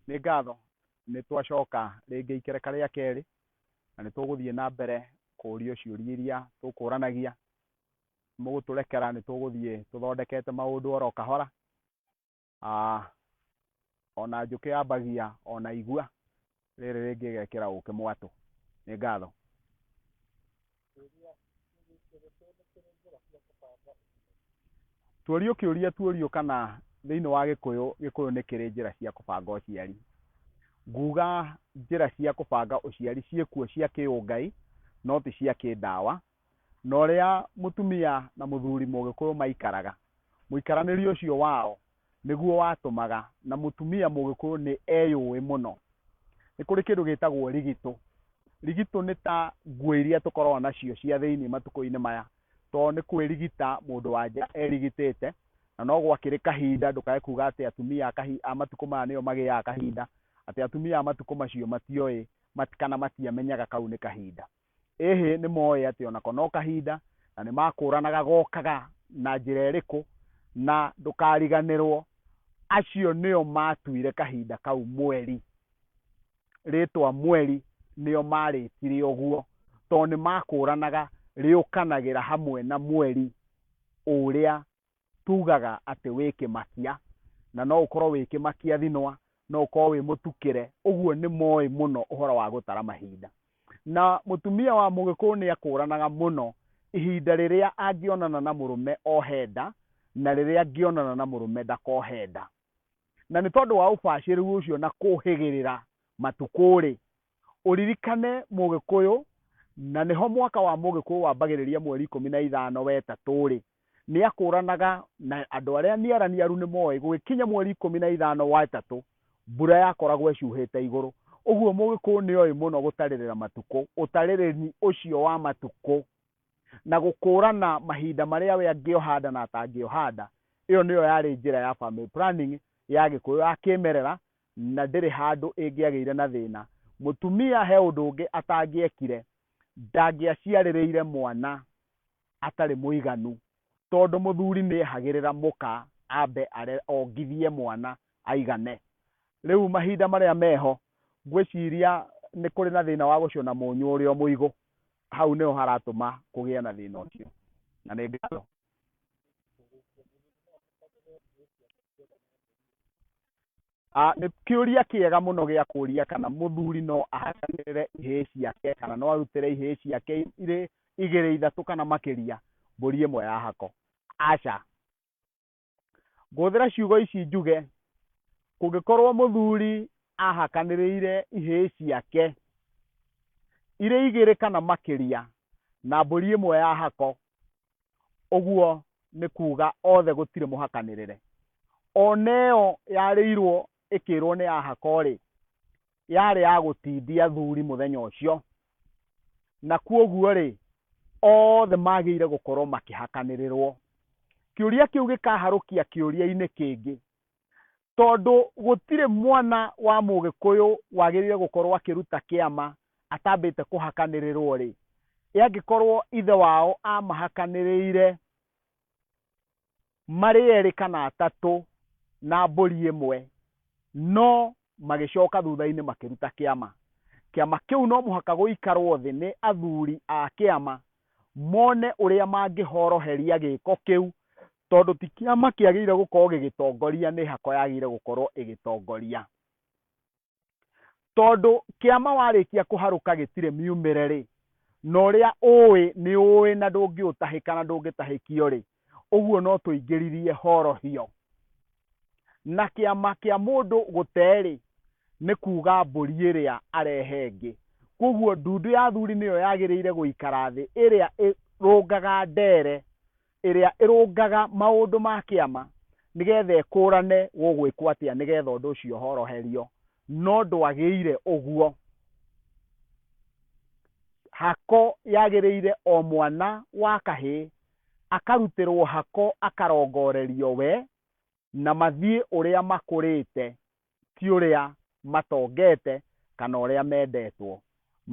nĩ ngatho nĩ twacoka rĩngĩ ikereka rĩa kerĩ na nĩ tũgũthiĩ na mbere kũũrio ciũria iria tũkũranagia mũgũtũrekera nĩ tũgũthiĩ tũthondekete maũndũ oro kahora O na njũkĩ yambagia o na igua, rĩrĩ rĩngĩ ĩgekĩra ũkĩ mwatũ. Nĩ ngatho. Tũũrio kĩũria tũũrio kana thĩinĩ wa Gĩkũyũ, Gĩkũyũ nĩ kĩrĩ njĩra cia kũbanga ũciari. Nguga njĩra cia kũbanga ũciari ciĩkuo cia kĩũngai no ti cia kĩndawa, na ũrĩa mũtumia na mũthuri Mũgĩkũyũ maikaraga. Mũikaranĩrie ũcio wao nĩguo watũmaga na mũtumia Mũgĩkũyũ nĩ eyũĩ mũno. Nĩ kũrĩ kĩndũ gĩtagwo rigitũ. Rigitũ nĩ ta nguo iria tũkoragwo nacio cia thĩinĩ matukũ-inĩ maya, tondũ nĩ kwĩrigita mũndũ wa nja erigitĩte, na no gwakĩrĩ kahinda, ndũkae kuuga atĩ atumia a matukũ maya nĩo magĩaga kahinda, atĩ atumia a matukũ macio matioĩ kana matiamenyaga kau nĩ kahinda. Ĩ hĩ nĩ mooĩ atĩ o nako no kahinda, na nĩ makũũranaga gokaga na njĩra ĩrĩkũ? Na ndũkariganĩrũo, acio nĩo maatuire kahinda kau mweri, rĩĩtwa mweri, nĩo maarĩtire ũguo, tondũ nĩ makũũranaga rĩũkanagĩra hamwe na mweri ũrĩa tugaga atĩ wĩ kĩmakia na no ũkorwo wĩ kĩmakia thinwa no ũkorwo wĩ mũtukĩre ũguo nĩ moĩ mũno ũhoro wa gũtara mahinda na mũtumia wa mũgĩkũyũ nĩ akũranaga mũno ihinda rĩrĩa angĩonana na mũrũme ohe nda na rĩrĩa angĩonana na mũrũme ndakohe nda na nĩ tondũ wa ũbacĩrĩru ũcio na kũhĩgĩrĩra matukũ rĩ Ũririkane Mũgĩkũyũ, na nĩho mwaka wa Mũgĩkũyũ wambagĩrĩria mweri ikũmi na ithano wetatũ-rĩ, nĩakũranaga na andũ arĩa niaraniaru nĩmoĩ gũgĩkinya mweri ikũmi na ithano wetatũ mbura yakoragwo ĩcuhĩte igũrũ. Ũguo Mũgĩkũyũ nĩoĩ mũno gũtarĩrĩra matukũ, ũtarĩrĩri ũcio wa matukũ na gũkũrana mahinda marĩa we angĩohanda na atangĩohanda, ĩyo nĩyo yarĩ njĩra ya family planning ya Gĩkũyũ ya kĩmerera na ndĩrĩ handũ ĩngĩagĩire na thĩna. Mũtumia he ũndũ ũngĩ atangĩekire, ndangĩaciarĩrĩire mwana atarĩ mũiganu, tondũ mũthuri nĩehagĩrĩra mũka ambe ongithie mwana aigane. Rĩu mahinda marĩa meho, ngwĩciria nĩ kũrĩ na thĩna wa gũcũna mũnyũ ũrĩo mũigũ, hau nĩho haratũma kũgĩe na thĩna ũcio. Na nĩ ngatho. Ah, nĩ kĩũria kĩega mũno gĩa kũria kana mũthuri no ahakanĩrĩre ihĩĩ ciake kana no arutĩre ihĩĩ ciake irĩ igĩrĩ ithatũ kana makĩria mbũri ĩmwe ya hako aca ngũhũthĩra ciugo ici njuge kũngĩkorwo mũthuri ahakanĩrĩire ihĩĩ ciake irĩ igĩrĩ kana makĩria na mbũri ĩmwe ya hako ũguo nĩ kuuga othe gũtirĩ mũhakanĩrĩre ona ĩyo yarĩirwo ĩkĩrwo nĩ ahako-rĩ yarĩ ya gũtindia athuri mũthenya ũcio na kuoguo-rĩ othe magĩire gũkorwo makĩhakanĩrĩrwo kĩũria kĩu gĩkaharũkia kĩũria-inĩ kĩngĩ tondũ gũtirĩ mwana wa mũgĩkũyũ wagĩrĩire gũkorwo akĩruta kĩama atambĩte kũhakanĩrĩrwo rĩ, ĩ angĩkorwo ithe wao amahakanĩrĩire marĩ erĩ kana atatũ na mbũri ĩmwe, no magĩcoka thutha-inĩ makĩruta kĩama. Kĩama kĩu no mũhaka gũikarũo thĩ nĩ athuri a kĩama mone ũrĩa mangĩhoroheria gĩĩko kĩu tondũ ti kĩama kĩagĩrĩire gũkorũo gĩgĩtongoria nĩ hako yagĩrĩire gũkorũo ĩgĩtongoria. Tondũ kĩama warĩkia kũharũka gĩtirĩ miumĩre-rĩ, na ũrĩa ũĩ nĩ ũĩ na ndũngĩũtahĩka na ndũngĩtahĩkio-rĩ, Ũguo no tũingĩririe horohio. Na kĩama kĩa mũndũ gũte-rĩ, nĩ kuuga mbũri ĩrĩa arehe ĩngĩ. Kwoguo ndundu ya athuri nĩyo yagĩrĩire gũikara thĩ ĩrĩa ĩrũngaga ndeere ĩrĩa ĩrũngaga maũndũ ma kĩama nĩgetha ĩkũrane gũgwĩkwo atĩa nĩgetha ũndũ ũcio ũhoroherio. No ndwagĩire ũguo. Hako yagĩrĩire o mwana wa kahĩĩ akarutĩrwo hako akarongorerio we na mathiĩ ũrĩa makũrĩte ti ũrĩa matongete kana ũrĩa mendetwo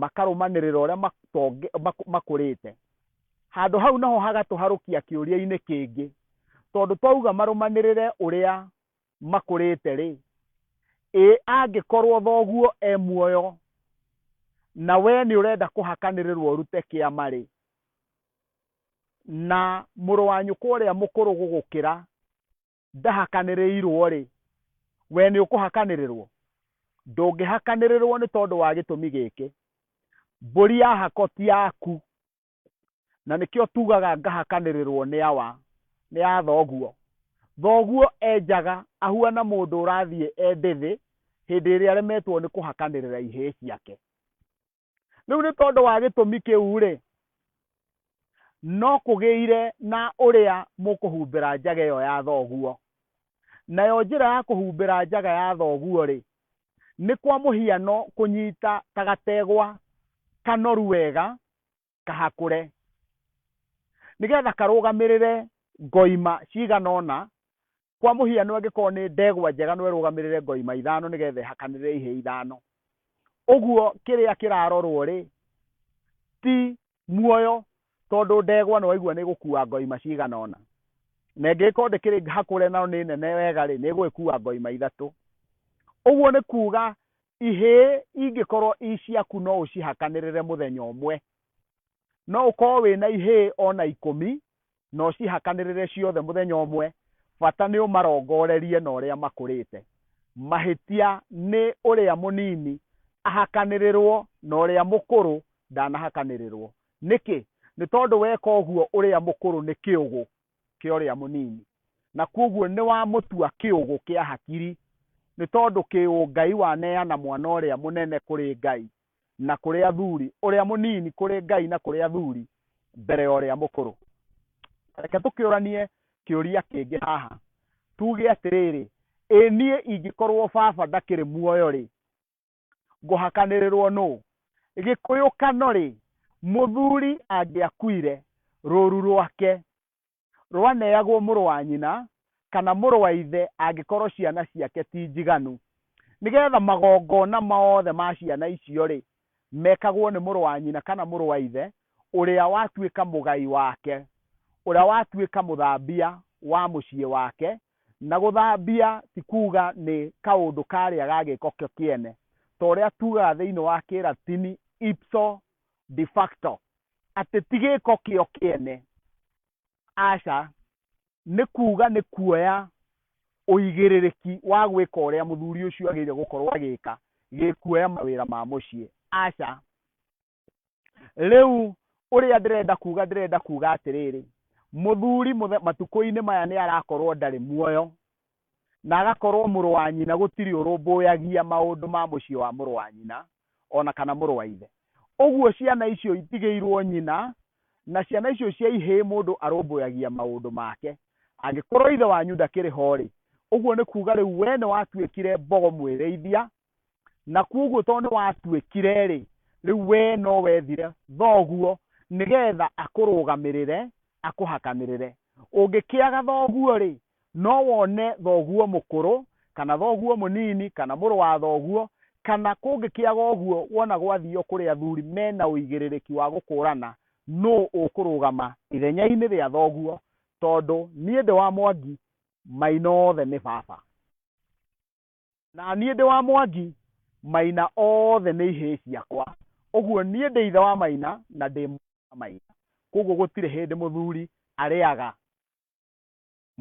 makarũmanĩrĩra ũrĩa matonge, mak- makũrĩte handũ hau naho hagatũharũkia kĩũria-inĩ kĩngĩ tondũ twauga marũmanĩrĩre ũrĩa makũrĩte rĩ ĩ angĩkorwo thoguo e muoyo na we nĩ ũrenda kũhakanĩrĩrwo ũrute kĩama rĩ na mũrũ wa nyũkwa ũrĩa mũkũrũ gũgũkĩra ndahakanĩrĩirwo-rĩ, we nĩũkũhakanĩrĩrwo? Ndũngĩhakanĩrĩrwo nĩ tondũ wa gĩtũmi gĩkĩ, Mbũri ya hako ti yaku, na nĩkĩo tugaga ngahakanĩrĩrwo nĩ awa? Nĩ ya thoguo. Thoguo enjaga ahuana mũndũ ũrathiĩ e ndĩthĩ hĩndĩ ĩrĩa aremetwo nĩ kũhakanĩrĩra ihĩĩ ciake. rĩu nĩ tondũ wa gĩtũmi kĩu-rĩ no kũgĩire na ũrĩa mũkũhumbĩra njaga ĩyo ya thoguo nayo njĩra ya kũhumbĩra njaga ya thoguo-rĩ nĩ kwa mũhiano kũnyita ta gategwa kanoru wega kahakũre nĩgetha karũgamĩrĩre ngoima cigana ũna kwa mũhiano angĩkorwo nĩ ndegwa njega no ĩrũgamĩrĩre ngoima ithano nĩgetha ĩhakanĩrĩre ihĩ ithano ũguo kĩrĩa kĩrarorwo rĩ ti muoyo tondũ ndegwa nĩ waigua nĩ gũkua ngoima cigana ũna na ĩngĩgĩkorwo ndĩkĩrĩ hakũre na nĩ nene wega rĩ nĩ ĩgũgĩkua ngoima ithatũ ũguo nĩ kuga ihĩĩ ingĩkorwo i ciaku no ũcihakanĩrĩre mũthenya ũmwe no ũkorwo wĩna ihĩĩ ona ikũmi na ũcihakanĩrĩre ciothe mũthenya ũmwe bata nĩ ũmarongorerie na ũrĩa makũrĩte mahĩtia nĩ ũrĩa mũnini ahakanĩrĩrwo na ũrĩa mũkũrũ ndanahakanĩrĩrwo nĩkĩ nĩ tondũ weka ũguo ũrĩa mũkũrũ nĩ kĩũgũ kĩa ũrĩa mũnini na kwoguo nĩ wamũtua kĩũgũ kĩa hakiri nĩ tondũ kĩũngai waneana mwana ũrĩa mũnene kũrĩ Ngai na kũrĩ athuri, ũrĩa mũnini kũrĩ Ngai na kũrĩ athuri mbere ya ũrĩa mũkũrũ. Reke tũkĩũranie kĩũria kĩngĩ haha, tuge atĩrĩrĩ, ĩ niĩ ingĩkorwo baba ndakĩrĩ muoyo-rĩ, ngũhakanĩrĩrwo nũ gĩkũyũkano rĩ mũthuri angĩakuire rũru rwake rwaneagwo mũrũ wa nyina kana mũrũ wa ithe angĩkorwo ciana ciake ti njiganu nĩgetha magongona mothe ma ciana icio rĩ mekagwo nĩ mũrũ wa nyina kana mũrũ wa ithe ũrĩa watuĩka mũgai wake ũrĩa watuĩka mũthambia wa mũciĩ wake Na gũthambia ti kuuga nĩ kaũndũ karĩa ga gĩĩko kĩo kĩene, ta ũrĩa tuugaga thĩinĩ wa Kĩlatini ipso de facto, atĩ ti gĩĩko kĩo kĩene. Aca. Nĩ kuuga nĩ kuoya ũigĩrĩrĩki wa gwĩka ũrĩa mũthuri ũcio agĩrĩire gũkorũo agĩka, gĩkuoya mawĩra ma mũciĩ. Aca. rĩu ũrĩa ndĩrenda kuga ndĩrenda kuga atĩrĩrĩ mũthuri mũthe- matukũ-inĩ maya nĩ arakorwo ndarĩ muoyo na agakorwo mũrũ wa nyina gũtirĩ ũrũmbũyagia maũndũ ma mũciĩ wa mũrũ wa nyina ona kana mũrũ wa ithe ũguo ciana icio itigĩirwo nyina na ciana icio cia ihĩĩ mũndũ arũmbũyagia maũndũ make angĩkorwo ithe wanyu ndakĩrĩ ho-rĩ ũguo nĩ kuga rĩu we nĩ watuĩkire mbogo mwĩrĩithia na kwoguo tondũ nĩ watuĩkire rĩ rĩu we no wethire thoguo nĩgetha akũrũgamĩrĩre akũhakanĩrĩre ũngĩkĩaga thoguo rĩ no wone thoguo mũkũrũ kana thoguo mũnini kana mũrũ wa thoguo kana kũngĩkĩaga ũguo wona gwathio kũrĩ athuri mena ũigĩrĩrĩki wa gũkũrana nũ ũkũrũgama ithenya-inĩ rĩa thoguo tondũ niĩ ndĩ wa mwangi maina othe nĩ baba Na niĩ ndĩ wa Mwangi, Maina othe nĩ ihĩĩ ciakwa. Ũguo niĩ ndĩ ithe wa Maina na ndĩ mũrũ wa Maina. Kwoguo gũtirĩ hĩndĩ mũthuri arĩaga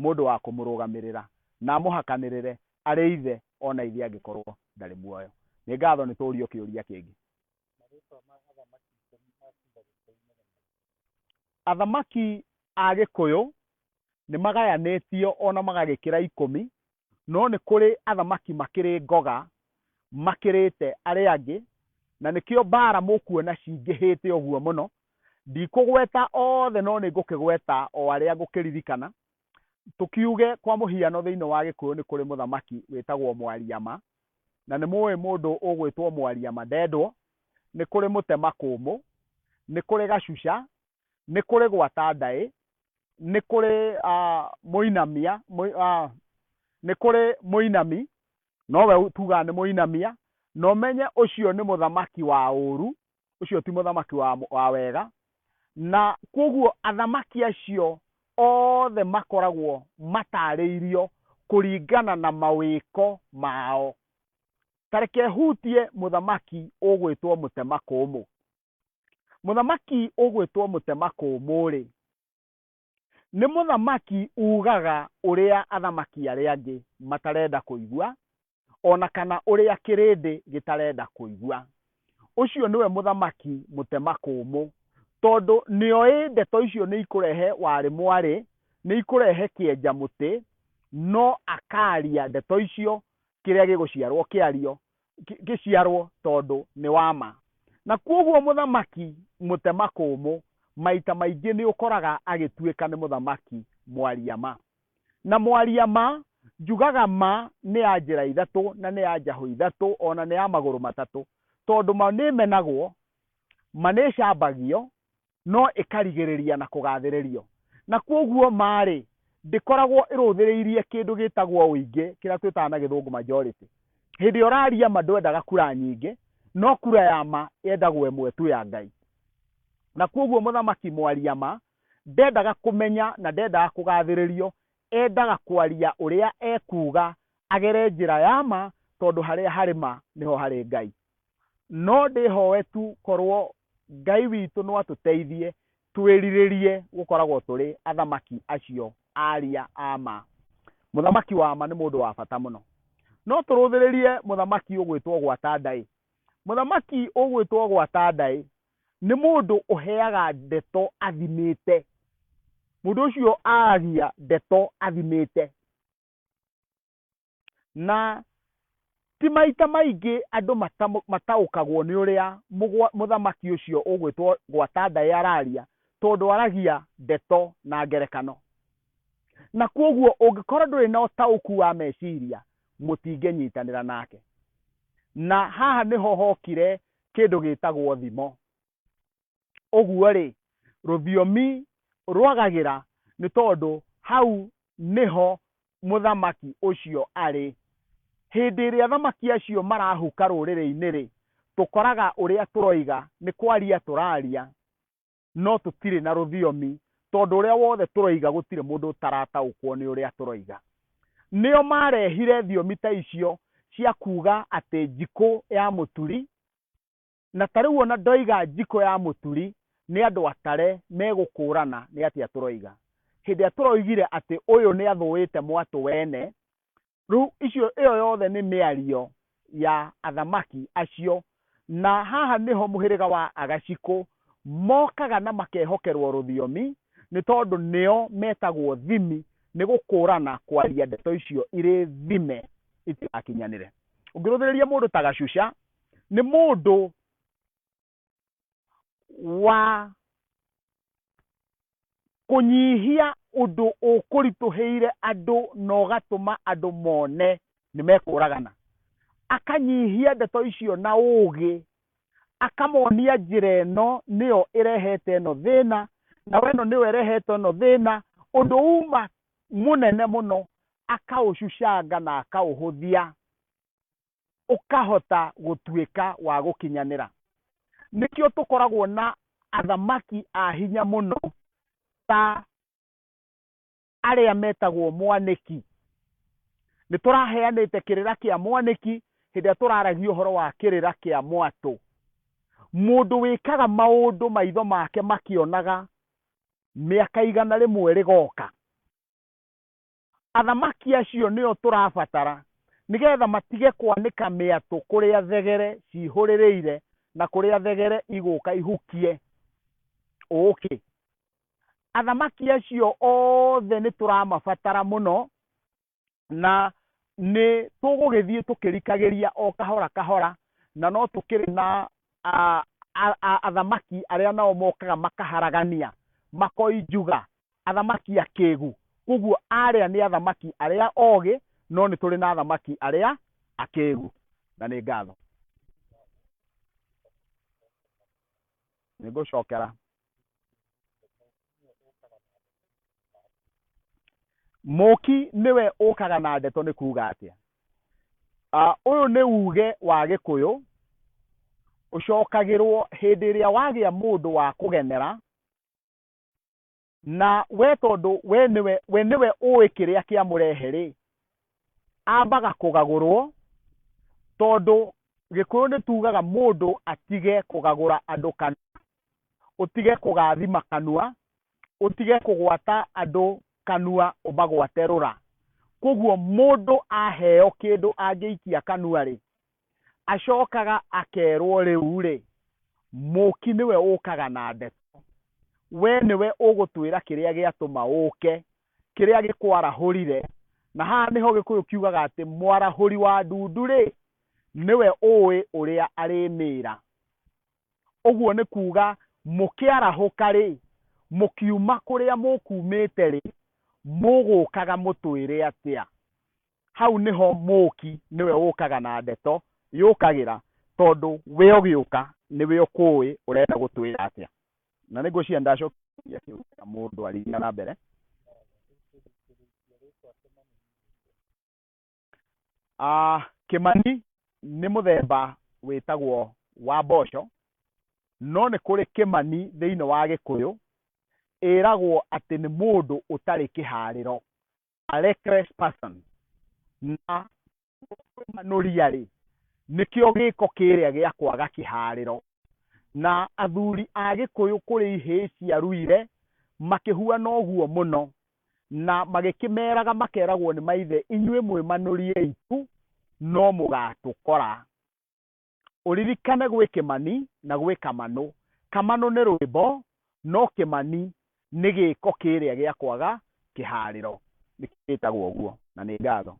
mũndũ wa kũmũrũgamĩrĩra na amũhakanĩrĩre arĩ ithe o na ithe angĩkorwo ndarĩ muoyo. Nĩ ngatho nĩ tũũrio kĩũria kĩngĩ. Marĩĩtwa ma athamaki ikũmi a Juda Gĩkũyũ-inĩ nĩ marĩkũ? Athamaki a Gĩkũyũ nĩ magayanĩtio o na magagĩkĩra ikũmi No nĩ kũrĩ athamaki makĩrĩ ngoga makĩrĩte arĩa angĩ, na nĩkĩo mbaara mũkuona cingĩhĩte ũguo mũno. Ndikũgweta othe no nĩ ngũkĩgweta o arĩa ngũkĩririkana. Tũkiuge kwa mũhiano thĩinĩ wa Gĩkũyũ nĩ kũrĩ mũthamaki wĩtagwo Mwariama, na nĩ mũĩ mũndũ ũgwĩtwo Mwariama Ndendwo, nĩ kũrĩ Mũtemakũmũ, nĩ kũrĩ Gacuca, nĩ kũrĩ gwata ndaĩ, nĩ kũrĩ mũinamia, nĩ kũrĩ mũinami, nowe tugaga nĩ mũinamia, na ũmenye ũcio nĩ mũthamaki wa ũũru, ũcio ti mũthamaki wa wega. Na kwoguo athamaki acio othe makoragwo mataarĩirio kũringana na mawĩko mao. Ta reke hutie mũthamaki ũgwĩtwo mũtemakũũmũ. mũthamaki ũgwĩtwo mũtemakũmũ-rĩ nĩ mũthamaki ugaga ũrĩa athamaki arĩa angĩ matarenda kũigua ona kana ũrĩa kĩrĩndĩ gĩtarenda kũigua. Ũcio nĩwe mũthamaki mũtemakũmũ tondũ nĩoĩ ndeto icio nĩ ikũrehe warĩ mwarĩ, nĩ ikũrehe kĩenja mũtĩ, no akaria ndeto icio kĩrĩa gĩgũciarwo kĩario ngĩ- ngĩciarwo tondũ nĩ wa ma na kwoguo mũthamaki mũtemakũmũ maita maingĩ nĩ ũkoraga agĩtuĩka nĩ mũthamaki mwaria ma na mwaria ma njugaga ma nĩ ya njĩra ithatũ na nĩ ya njahũ ithatũ ona nĩ ya magũrũ matatũ tondũ ma nĩ menagwo ma nĩ cambagio no ĩkarigĩrĩria na kũgathĩrĩrio. Na kwoguo ma-rĩ, ndĩkoragwo ĩrũthĩrĩirie kĩndũ gĩtagwo ũingĩ, kĩrĩa twĩtaga na gĩthũngũ majority. Hĩndĩ ĩrĩa ũraria ma ndwendaga kura nyingĩ, no kura ya ma yendagwo ĩmwe tu ya Ngai. Na kwoguo mũthamaki mwaria ma ndendaga kũmenya na ndendaga kũgathĩrĩrio, endaga kwaria ũrĩa ekuga agere njĩra ya ma, tondũ harĩa harĩ ma nĩho harĩ Ngai. no ndĩhoe tu korwo Ngai witũ no atũteithie twĩrirĩrie gũkoragwo tũrĩ athamaki acio aria a ma. Mũthamaki wa ma nĩ mũndũ wa bata mũno. No tũrũthĩrĩrie mũthamaki ũgwĩtwo Gwatanda-ĩ. Mũthamaki ũgwĩtwo Gwatanda-ĩ, nĩ mũndũ ũheaga ndeto athimĩte. Mũndũ ũcio aragia ndeto athimĩte. na ti maita maingĩ andũ mata- mataũkagwo nĩ ũrĩa mũgwa- mũthamaki ũcio ũgwĩtwo gwatandai araria tondũ aragia ndeto na ngerekano na kwoguo ũngĩkorwo ndũrĩ na ũtaũku wa meciria mũtingĩnyitanĩra nake na haha nĩho hokire kĩndũ gĩtagwo thimo Ũguo-rĩ, rũthiomi rwagagĩra nĩ tondũ hau nĩho mũthamaki ũcio arĩ. Hĩndĩ ĩrĩa athamaki acio marahuka rũrĩrĩ-inĩ-rĩ, tũkoraga ũrĩa tũroiga nĩ kwaria tũraria no tũtirĩ na rũthiomi tondũ ũrĩa wothe tũroiga gũtirĩ mũndũ ũtarataũkwo nĩ ũrĩa tũroiga. Nĩo marehire thiomi ta icio cia kuuga atĩ njikũ ya mũturi Na ta rĩu ona ndoiga njiko ya mũturi nĩ andũ atare megũkũũrana nĩ atĩa tũroiga. Hĩndĩ ĩrĩa tũroigire atĩ ũyũ nĩ athũĩte mwatũ wene, rĩu icio ĩyo yothe nĩ mĩario ya athamaki acio. Na haha nĩho mũhĩrĩga wa Agacikũ mokaga na makehokerwo rũthiomi nĩ tondũ nĩo metagwo thimi nĩ gũkũũrana kwaria ndeto icio irĩ thime itigakinyanĩre. Ũngĩrũthĩrĩria mũndũ ta Gacuca nĩ mũndũ wa kũnyihia ũndũ ũkũritũhĩire andũ na ũgatũma andũ mone nĩ mekũragana akanyihia ndeto icio na ũũgĩ akamonia njĩra ĩno nĩyo ĩrehete ĩno thĩna na weno nĩyo ĩrehete ĩno thĩna ũndũ uma mũnene mũno akaũcucanga na akaũhũthia ũkahota gũtuĩka wa gũkinyanĩra. Nĩkĩo tũkoragwo na athamaki a hinya mũno ta arĩa metagwo mwanĩki. Nĩ tũraheanĩte kĩrĩra kĩa mwanĩki hĩndĩ ĩrĩa tũraragia ũhoro wa kĩrĩra kĩa mwatũ. Mũndũ wĩkaga maũndũ maitho make makĩonaga mĩaka igana rĩmwe rĩgoka. Athamaki acio nĩo tũrabatara nĩgetha matige kwanĩka mĩatũ kũrĩa thegere cihũrĩrĩire na kũrĩa thegere igũka ihukie ũkĩ. Athamaki acio othe nĩ tũramabatara mũno na nĩ tũgũgĩthiĩ tũkĩrikagĩria o kahora kahora na no tũkĩrĩ na athamaki arĩa nao mokaga makaharagania makoi njuga athamaki akĩĩgu, kwoguo aarĩa nĩ athamaki arĩa oogĩ, no nĩ tũrĩ na athamaki arĩa akĩĩgu. Na nĩ ngatho. Nĩ ngũcokera. Mũũki nĩwe ũũkaga na ndeto nĩ kuuga atĩa? Ah, Ũyũ nĩ uuge wa Gĩkũyũ ũcokagĩrwo hĩndĩ ĩrĩa wagĩa mũndũ wa kũgenera na we tondũ we nĩwe we nĩwe ũĩ kĩrĩa kĩamũrehe rĩ ambaga kũgagũrwo tondũ gĩkũyũ nĩ tugaga mũndũ atige kũgagũra andũ kana ũtige kũgathima kanua ũtige kũgwata andũ kanua ũmagwate rũra koguo mũndũ aheo kĩndũ angĩikia kanua rĩ acokaga akerwo rĩu rĩ mũki nĩwe ũkaga na ndeto we nĩwe ũgũtwĩra kĩrĩa gĩatũma ũke kĩrĩa gĩkwarahũrire na haha nĩho gĩkũyũ kiugaga atĩ mwarahũri wa ndundu rĩ nĩwe ũĩ ũrĩa arĩmĩra ũguo nĩ kuga mũkĩarahũka rĩ mũkiuma kũrĩa mũkumĩte rĩ mũgũkaga mũtwĩre atĩa hau nĩho mũũki nĩwe ũkaga na ndeto yũkagĩra tondũ we ũgĩũka nĩwe ũkũũĩ ũrenda gũtwĩra atĩa na nĩ ngwĩciria ndacokia kĩu na mũndũ arĩthiaga na mbere Ah, kĩmani nĩ mũthemba wĩtagwo wa mboco no nĩ kũrĩ kĩmani thĩinĩ wa gĩkũyũ ĩragwo atĩ nĩ mũndũ ũtarĩ kĩharĩro a reckless person na manũria rĩ nĩkĩo gĩko kĩrĩa gĩa kwaga kĩharĩro na athuri a gĩkũyũ kũrĩ ihĩĩ cia ruire makĩhuana ũguo mũno na magĩkĩmeraga makeragwo nĩ maithe inyuĩ mwĩmanũrie itu no mũgatũkora ũririkane gwĩ kĩmani na gwĩ kamanũ. Kamanũ nĩ rwĩmbo no kĩmani nĩ gĩko kĩrĩa gĩa kwaga kĩharĩro nĩkĩo gĩtagwo ũguo na nĩ ngatho.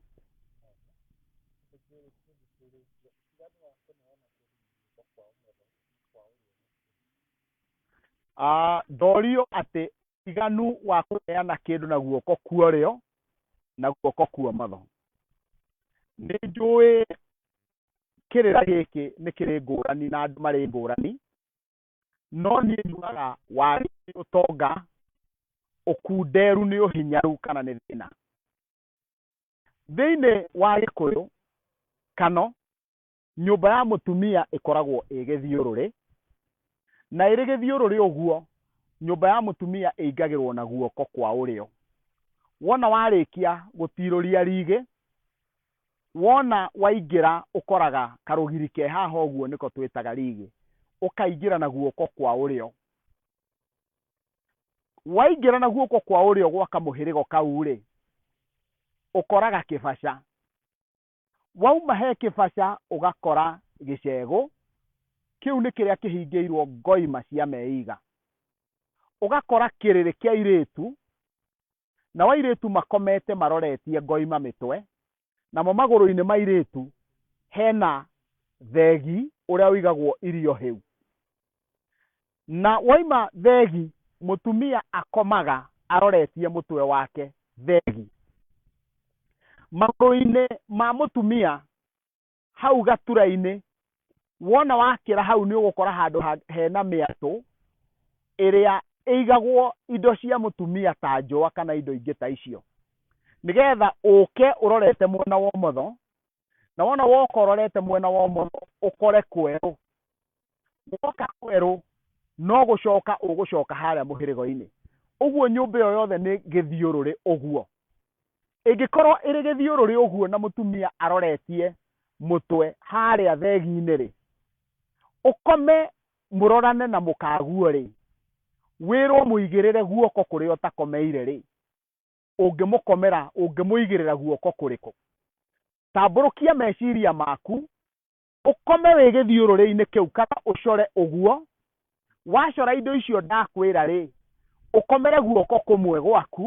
Ah, ndorio atĩ ũtiganu wa kũneana kĩndũ na guoko kwa ũrĩo na guoko kwa ũmotho nĩ njũĩ kĩrĩra gĩkĩ nĩ kĩrĩ ngũrani na andũ marĩ ngũrani, no niĩ njugaga wagi nĩ ũtonga, ũkunderu nĩ ũhinyaru kana nĩ thĩna. Thĩinĩ wa gĩkũyũ kano, nyũmba ya mũtumia ĩkoragwo ĩĩ gĩthiũrũrĩ, na ĩrĩ gĩthiũrũrĩ ũguo, nyũmba ya mũtumia ĩingagĩrwo na guoko kwa ũrĩo. Wona warĩkia gũtirũria rĩgĩ, Wona waingĩra ũkoraga karũgiri ke haha ũguo nĩko twĩtaga rigi, ũkaingĩra na guoko kwa ũrĩo. Waingĩra na guoko kwa ũrĩo gwa kamũhĩrĩgo kau rĩ, ũkoraga kĩbaca. Wauma he kĩbaca ũgakora gĩcegũ, kĩu nĩ kĩrĩa kĩhingĩirwo ngoima cia meiga. Ũgakora kĩrĩrĩ kĩa airĩtu, Nao airĩtu makomete maroretie ngoima mĩtwe, namo magũrũ-inĩ ma airĩtu hena thegi ũrĩa ũigagwo irio hĩu. Na woima thegi, mũtumia akomaga aroretie mũtwe wake thegi. Magũrũ-inĩ ma mũtumia hau gatura-inĩ wona wakĩra hau nĩ ũgũkora handũ ha- hena mĩatũ ĩrĩa ĩigagwo indo cia mũtumia ta njũa kana indo ingĩ ta icio nĩgetha ũke ũrorete mwena wa ũmotho na wona woka ũrorete mwena wa ũmotho ũkore kwerũ woka kwerũ no gũcoka ũgũcoka harĩa mũhĩrĩgo-inĩ ũguo nyũmba ĩyo yothe nĩ gĩthiũrũrĩ ũguo ĩngĩkorwo ĩrĩ gĩthiũrũrĩ ũguo na mũtumia aroretie mũtwe harĩa thegi-inĩ rĩ ũkome mũrorane na mũkaguo rĩ wĩrwo mũigĩrĩre guoko kũrĩa ũtakomeire rĩ ũngĩmũkomera ũngĩmũigĩrĩra guoko kũrĩkũ tambũrũkia meciria maku ũkome wĩ gĩthiũrũrĩ-inĩ kĩu kana ũcore ũguo, wacora indo icio ndakwĩra rĩ, ũkomere guoko kũmwe gwaku,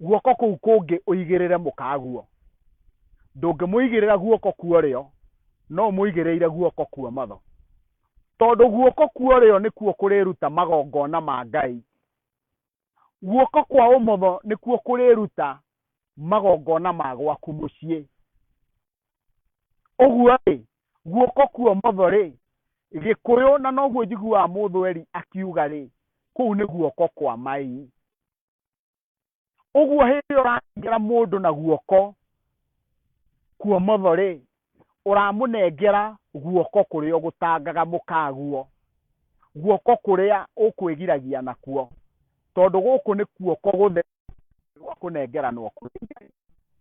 guoko kũu kũngĩ ũigĩrĩre mũkaguo. Ndũngĩmũigĩrĩra guoko kwa ũrĩo, no ũmũigĩrĩire guoko kwa ũmotho. Tondũ guoko kwa ũrĩo nĩkuo kũrĩruta magongona ma Ngai, guoko kwa ũmotho nĩkuo kũrĩruta magongona ma gwaku mũciĩ ũguo rĩ guoko kwa ũmotho rĩ gĩkũyũ na noguo njiguaga mũthweri akiuga rĩ kũu nĩ guoko kwa mai ũguo hĩndĩ ĩyo ũranengera mũndũ na guoko kwa ũmotho rĩ ũramũnengera guoko kũrĩa ũgũtangaga mũkaguo, guoko kũrĩa ũkwĩgiragia nakuo, tondũ gũkũ nĩ guoko gũtheru gwa kũnengeranwo kũrĩ Ngai.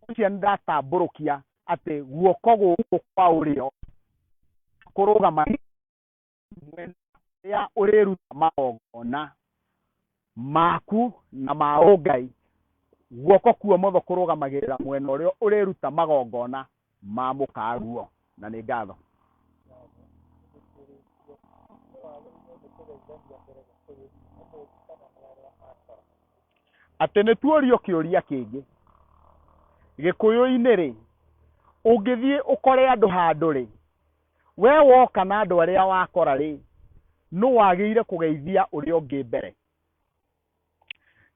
Ũcio nĩ ndatambũrũkia atĩ guoko gũkũ kwa ũrĩo kũrũgamagĩrĩra. mwena ũrĩa ũrĩruta magongona maku na ma ũngai guoko kuo motho kũrũgamagĩrĩra mwena ũrĩa ũrĩruta magongona ma mũkaguo na nĩ ngatho atĩ nĩ tuorio kĩũria kĩngĩ gĩkũyũ-inĩ rĩ ũngĩthiĩ ũkore andũ handũ rĩ Wee woka na andũ arĩa wakora-rĩ, nũ wagĩire kũgeithia ũrĩa ũngĩ mbere?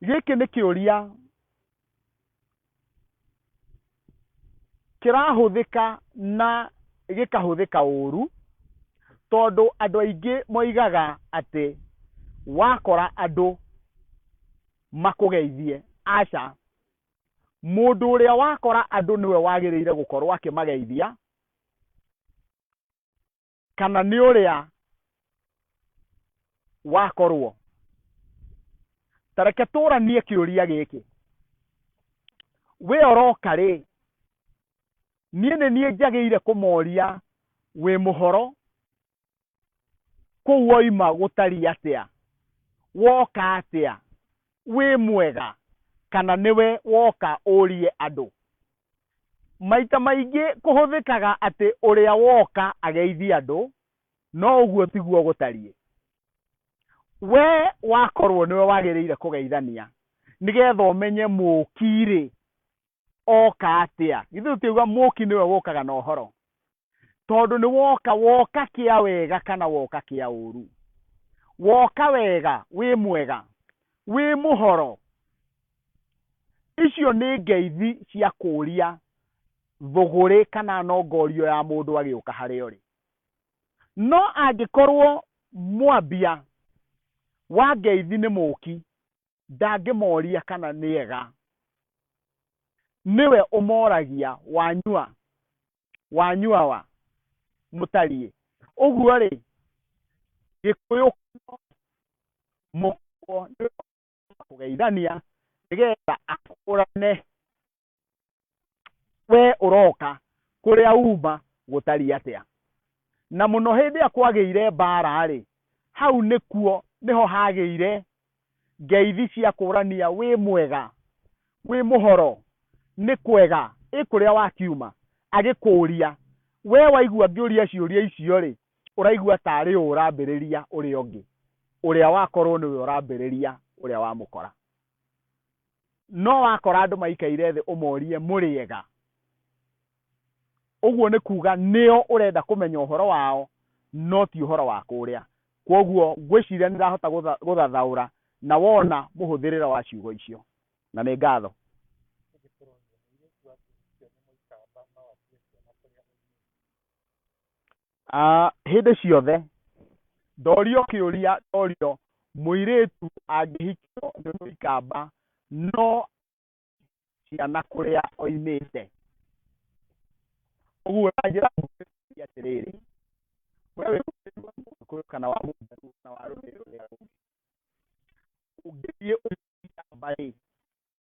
Gĩkĩ nĩ kĩũria kĩrahũthĩka na gĩkahũthĩka ũru tondũ andũ aingĩ moigaga atĩ wakora andũ makũgeithie. Aca, mũndũ ũrĩa wakora andũ nĩwe wagĩrĩire gũkorwo akĩmageithia kana nĩ ũrĩa wakorwo tareke tũranie kĩũria gĩkĩ we oroka rĩ niĩ nĩ niĩ njagĩire kũmoria wĩ mũhoro kũu oima gũtariĩ atĩa woka atĩa wĩ mwega kana nĩwe woka ũrie andũ maita maingĩ kũhũthĩkaga atĩ ũrĩa woka ageithie andũ no ũguo tiguo gũtariĩ we wakorwo nĩwe wagĩrĩire kũgeithania nĩgetha ũmenye mũki rĩ oka atia ithe tutiuga muki niwe wokaga na uhoro tondu ni woka woka kia wega kana woka kia uru woka wega wi mwega wi muhoro icio ni ngeithi cia kuria thuguri kana nongorio ya mundu agiuka hari ori no angikorwo mwambia wa ngeithi ni muki ndangĩmooria kana nĩ ega nĩwe ũmoragia wanyua wanyua wa mũtariĩ ũguo rĩ gĩkũyũ mũkwo kũgeithania nĩgetha akũrane we ũroka kũrĩa uma gũtariĩ atĩa na mũno hĩndĩ ĩrĩa kwagĩire mbaara rĩ hau nĩkuo nĩho hagĩire ngeithi cia kũrania wĩ mwega wĩ mũhoro nĩ kwega ĩ kũrĩa wakiuma agĩkũria we waigua ngĩũria ciũria icio rĩ ũraigua tarĩ ũũ ũrambĩrĩria ũrĩa ũngĩ ũrĩa wakorwo nĩwe ũrambĩrĩria ũrĩa wamũkora No wakora andũ maikaire thĩ ũmorie mũrĩega, ũguo nĩ kuga nĩo ũrenda kũmenya ũhoro wao no ti ũhoro wa kũrĩa. Kwoguo ngwĩciria nĩ ndĩrahota gũthathaũra na wona mũhũthĩrĩre wa ciugo icio. Na nĩ ngatho. Ah, hĩndĩ ciothe ndorio kĩũria ndorio mũirĩtu angĩhikio nĩ mũikamba no ciana kũrĩa oimĩte ũguo na njĩra nguhĩ nĩ atĩrĩrĩ we wĩ mũirĩtu wa mũgĩkũyũ kana wa mũjaluo kana wa rũrĩrĩ rũrĩa rũngĩ ũngĩthiĩ ũikamba rĩ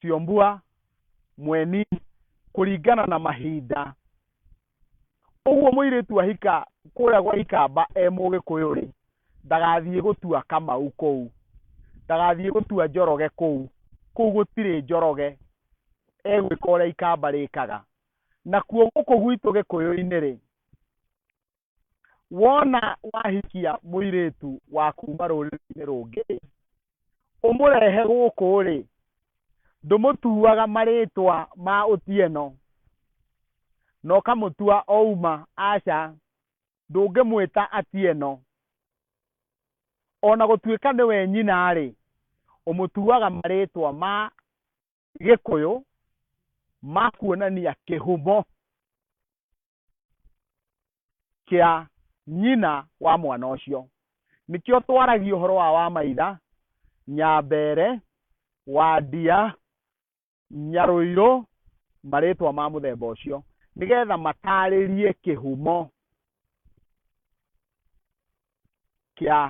Siombua, Mweni, kũringana na mahinda. Ũguo mũirĩtu ahika kũrĩa gwa ikamba e mũgĩkũyũ rĩ, ndagathiĩ gũtua kamau kũu, ndagathiĩ gũtua njoroge kũu, kũu gũtirĩ njoroge, egwĩka ũrĩa ikamba rĩkaga. Nakuo gũkũ gwitũ gĩkũyũ-inĩ rĩ, wona wahikia mũirĩtu wa kuuma rũrĩrĩ-inĩ rũngĩ ũmũrehe gũkũ rĩ ndũmũtuaga marĩtwa ma ũtieno na ũkamũtua ouma aca ndũngĩmwĩta atieno ona gũtuĩka nĩwe nyina rĩ ũmũtuaga marĩtwa ma gĩkũyũ ma kuonania kĩhumo kĩa nyina wa mwana ũcio nĩkĩo twaragia ũhoro wa wamaitha nyambere wandia nyarũirũ marĩtwa ma mũthemba ũcio nĩgetha matarĩrie kĩhumo kĩa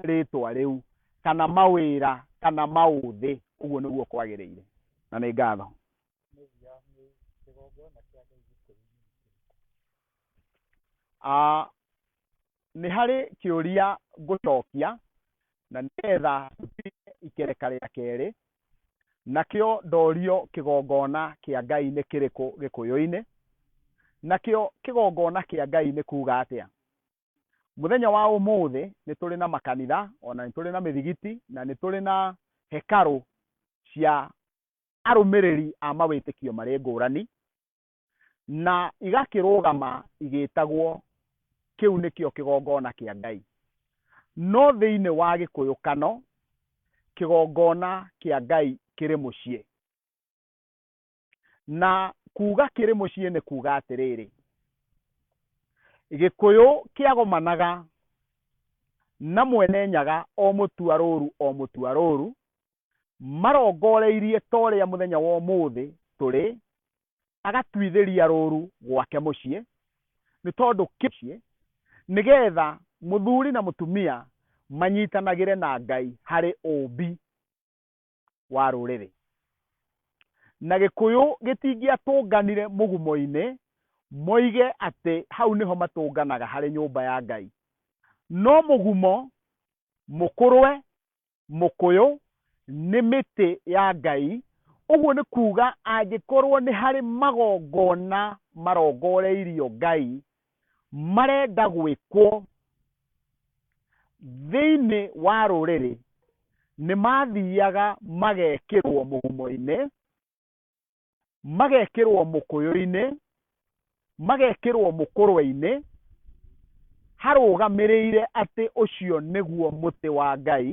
rĩtwa rĩu kana mawĩra kana maũthĩ ũguo nĩguo kwagĩrĩire na nĩ ngatho Ah, nĩ harĩ kĩũria ngũcokia na nĩgetha tũtige ikereka rĩa kerĩ, nakĩo ndorio kĩgongona kĩa Ngai nĩ kĩrĩkũ gĩkũyũ-inĩ, nakĩo kĩgongona kĩa Ngai nĩ kuga atĩa? Mũthenya wa ũmũthĩ nĩ tũrĩ na makanitha ona nĩ tũrĩ na mĩthigiti na nĩ tũrĩ na hekarũ cia arũmĩrĩri a mawĩtĩkio marĩ ngũrani na igakĩrũgama igĩtagwo kĩu nĩkĩo kĩgongona kĩa Ngai. No thĩinĩ wa gĩkũyũkano, kĩgongona kĩa Ngai kĩrĩ mũciĩ. Na kuuga kĩrĩ mũciĩ nĩ kuuga atĩrĩrĩ, gĩkũyũ kĩagomanaga na mwene nyaga o mũtua rũru o mũtua rũru, marongoreirie ta ũrĩa mũthenya wa ũmũthĩ tũrĩ agatuithĩria rũru gwake mũciĩ nĩ tondũ kĩciĩ nĩgetha mũthuri na mũtumia manyitanagĩre na ngai harĩ ũmbi wa rũrĩrĩ na gĩkũyũ gĩtingĩatũnganire mũgumo-inĩ moige atĩ hau nĩho matũnganaga harĩ nyũmba ya ngai no mũgumo mũkũrwe mũkũyũ nĩ mĩtĩ ya Ngai, ũguo nĩ kuuga angĩkorwo nĩ harĩ magongona marongoreirio Ngai marenda gwĩkwo thĩinĩ wa rũrĩrĩ, nĩ mathiaga magekĩrwo mũgumo-inĩ magekĩrwo mũkũyũ-inĩ magekĩrwo mũkũrwe-inĩ harũgamĩrĩire atĩ ũcio nĩguo mũtĩ wa ngai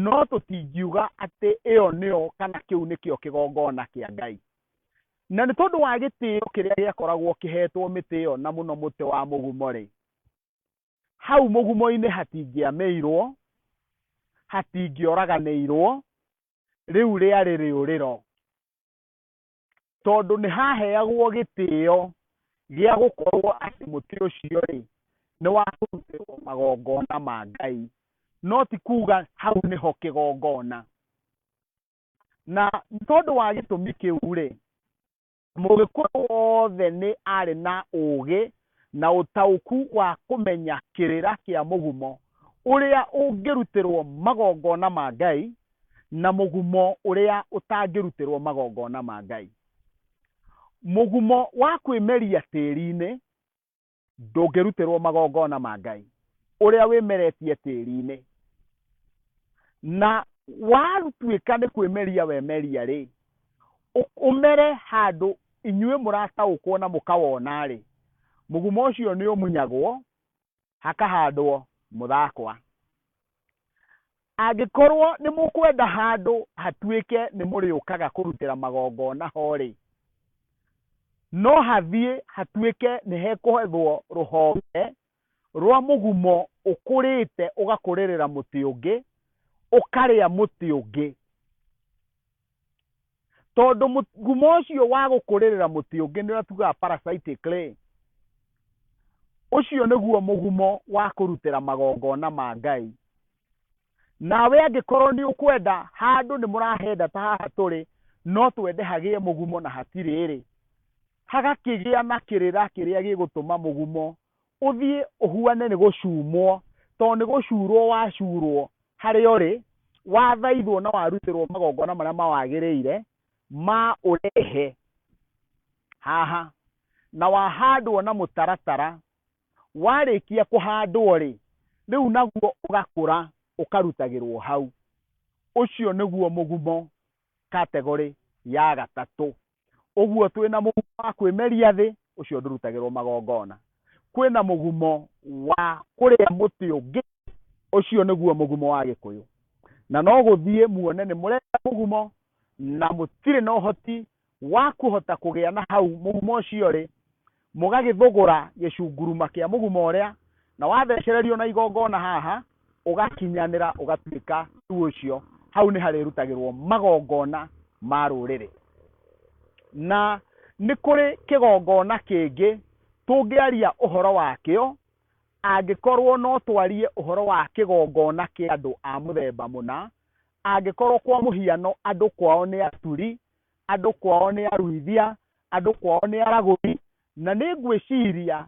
no tũtingiuga atĩ ĩyo nĩyo kana kĩu nĩkĩo kĩgongona kĩa ngai na nĩ tondũ wa gĩtĩo kĩrĩa gĩakoragwo kĩhetwo mĩtĩ ĩyo na mũno mũtĩ wa mũgumo rĩ hau mũgumo-inĩ hatingĩamĩirwo hatingĩoraganĩirwo rĩu rĩarĩ rĩũrĩro tondũ nĩ haheagwo gĩtĩo gĩa gũkorwo atĩ mũtĩ ũcio rĩ nĩ wa kũrutĩrwo magongona ma ngai no ti kuga hau nĩho kĩgongona na tondũ wa gĩtũmi kĩu rĩ Mũgĩkũyũ wothe nĩ arĩ na ũũgĩ na ũtaũku wa kũmenya kĩrĩra kĩa mũgumo ũrĩa ũngĩrutĩrwo magongona ma Ngai na mũgumo ũrĩa ũtangĩrutĩrwo magongona ma Ngai. Mũgumo wa kwĩmeria tĩri-inĩ ndũngĩrutĩrwo magongona ma ngai ũrĩa wĩmeretie tĩri-inĩ na watuĩka nĩ kwĩmeria wemeria rĩ ũ- ũmere handũ inyuĩ mũrataũkwo na mũkawona rĩ mũgumo ũcio nĩ ũmunyagwo hakahandwo mũthakwa Angĩkorwo nĩ mũkwenda handũ hatuĩke nĩ mũrĩũkaga kũrutĩra magongona ho-rĩ, no hathiĩ hatuĩke nĩ hekũhethwo rũhonge rwa mũgumo ũkũrĩte ũgakũrĩrĩra mũtĩ ũngĩ, ũkarĩa mũtĩ ũngĩ. tondũ mũgumo ũcio wa gũkũrĩrĩra mũtĩ ũngĩ nĩ ũratugaga parasitic clay ũcio nĩguo mũgumo wa kũrutĩra magongona ma ngai nawe angĩkorwo nĩ ũkwenda handũ nĩ mũrahenda ta haha tũrĩ no twende hagĩe mũgumo na hatirĩ rĩ hagakĩgĩa na kĩrĩra kĩrĩa gĩgũtũma mũgumo Ũthiĩ ũhuane nĩ gũcumwo, tondũ nĩ gũcurũo wacurũo harĩa ũrĩ, wathaithwo na warutĩrũo magongona marĩa mawagĩrĩire ma ũrehe haha, na wahandwo na mũtaratara. Warĩkia kũhandwo-rĩ, rĩu naguo ũgakũra ũkarutagĩrũo hau. Ũcio nĩguo mũgumo, category, ya gatatũ. ũguo twĩ na mũgumo wa kwĩmeria thĩ ũcio ndũrutagĩrwo magongona kwĩ na mũgumo wa kũrĩa mũtĩ ũngĩ ũcio nĩguo mũgumo wa gĩkũyũ na no gũthiĩ muone nĩ mũrenda mũgumo na mũtirĩ na ũhoti wa kũhota kũgĩa na hau mũgumo ũcio rĩ Mũgagĩthũgũra gĩcunguruma kĩa mũguma ũrĩa, na wathecererio na igongona haha, ũgakinyanĩra ũgatuĩka rĩu ũcio, hau nĩ harĩrutagĩrwo magongona ma rũrĩrĩ. Na nĩ kũrĩ kĩgongona kĩngĩ tũngĩaria ũhoro wakĩo, angĩkorwo no twarie ũhoro wa kĩgongona kĩa andũ a mũthemba mũna, angĩkorwo kwa mũhiano andũ kwao nĩ Aturi, andũ kwao nĩ aruithia, andũ kwao nĩ aragũri, na nĩ ngwĩciria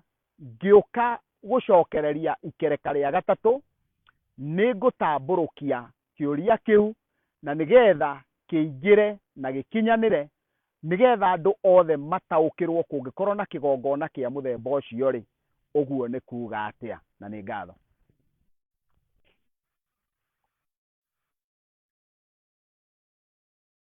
ngĩũka gũcokereria ikereka rĩa gatatũ, nĩ ngũtambũrũkia kĩũria kĩu na nĩ getha kĩingĩre na gĩkinyanĩre, nĩ getha andũ othe mataũkĩrwo kũngĩkorwo na kĩgongona kĩa mũthemba ũcio rĩ, ũguo nĩ kuuga atĩa. Na nĩ ngatho.